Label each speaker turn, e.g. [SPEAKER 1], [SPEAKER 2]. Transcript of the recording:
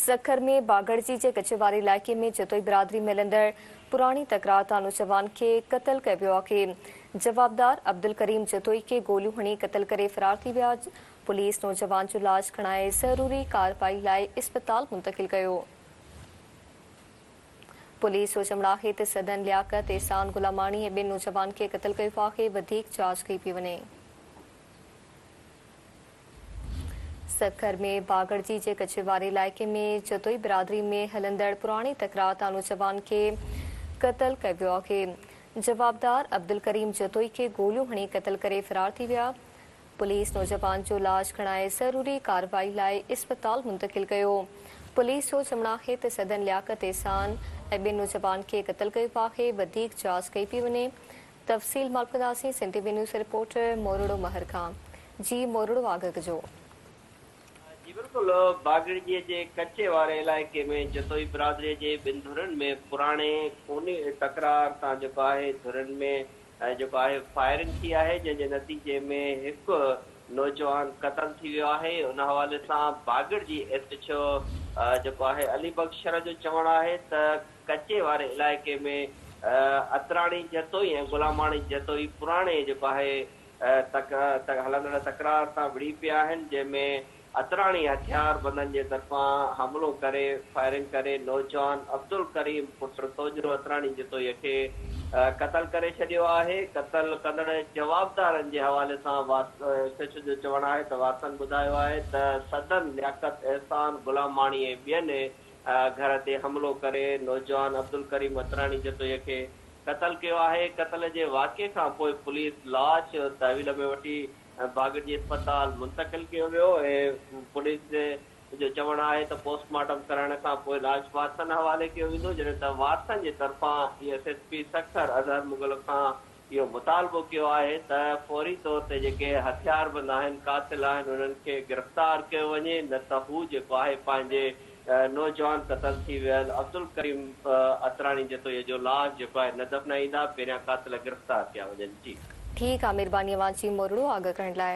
[SPEAKER 1] سکر ۾ باگڙجي جي ڪچي واري علائقي ۾ جتوئي برادري ۾ هلندڙ پراڻي تڪرار تان نوجوان کي قتل ڪيو ويو آهي، جوابدار عبدالڪريم جتوئي کي گوليون هڻي قتل ڪري فرار ٿي ويا، پوليس نوجوان جو لاش کڻائي ضروري ڪارروائي لاء اسپتال منتقل ڪيو. پوليس جو چوڻ آهي ته سدن لياقت، احسان غلاماڻي ۽ ٻن نوجوانن کي قتل ڪيو آهي، وڌيڪ جاچ ڪئي پئي وڃي. سکر ۾ باگڙجي جي ڪچي واري علائقي ۾ جتوئي برادري ۾ هلندڙ پراڻي تڪرار تان نوجوان کي قتل ڪيو ويو آهي، جوابدار عبدالڪريم جتوئي کي گوليون هڻي قتل ڪري فرار ٿي ويا، پوليس نوجوان جو لاش کڻائي ضروري ڪارروائي لاء اسپتال منتقل ڪيو، پوليس جو چوڻ آهي ته سدن لياقت احسان ۽ ٻن نوجوان کي قتل ڪيو آهي، وڌيڪ جاچ ڪئي پئي وڃي، تفصيل مالڪنداسين Sindhi V news reporter Moro Mehar کان جي مورڙو آگگ جو.
[SPEAKER 2] جي بلڪل باگڙجي جي ڪچي واري علائقي ۾ جتوئي برادري جي ٻن ڌرين ۾ پراڻي خوني تڪرار تان جيڪو آهي ڌرين ۾ جيڪو آهي فائرنگ ٿي آهي جنهن جي نتيجي ۾ هڪ نوجوان قتل ٿي ويو آهي ان حوالي سان باگڙجي ايس ايڇ او جيڪو آهي علي بخش شرح جو چوڻ آهي ته ڪچي واري علائقي ۾ اتراڻي جتوئي ۽ غلاماڻي جتوئي پراڻي جيڪو آهي تڪ هلندڙ تڪرار سان وڙهي پيا آهن جنهن ۾ اتراڻي هٿيار بندن جي طرفان حملو ڪري فائرنگ ڪري نوجوان عبدالڪريم پٽ سوجهرو اتراڻي جتوئي کي قتل ڪري ڇڏيو آهي قتل ڪندڙ جوابدارن جي حوالي سان وارث جو چوڻ آهي ته وارثن ٻڌايو آهي ته سدن لياقت احسان غلاماڻي ۽ ٻين گهر تي حملو ڪري نوجوان عبدالڪريم عطراني جتوئيء کي قتل ڪيو آهي، قتل جي واقعي کان پوء پوليس لاش تحويل ۾ وٺي باگڙجي اسپتال منتقل ڪيو ويو ۽ پوليس جو چوڻ آهي ته پوسٽ مارٽم ڪرائڻ کان پوء لاش وارثن حوالي ڪيو ويندو جڏهن ته وارثن جي طرفان S S P Sukkur Azhar Mughal کان اهو مطالبو ڪيو آهي ته فوري طور تي جيڪي هٿياربند آهن، قاتل آهن انهن کي گرفتار ڪيو وڃي نه ته هو جيڪو آهي پنهنجي نوجوان قتل ٿي ويل عبدالڪريم عطراني جتوئي جو لاش جيڪو آهي نه دفنائيندا پهريان قاتل گرفتار
[SPEAKER 1] ڪيا
[SPEAKER 2] وڃن.
[SPEAKER 1] جي. ٺيڪ
[SPEAKER 2] آ
[SPEAKER 1] مھرباني
[SPEAKER 2] اوھان
[SPEAKER 1] جي مورڙو آگھ
[SPEAKER 2] ڪرڻ لاء.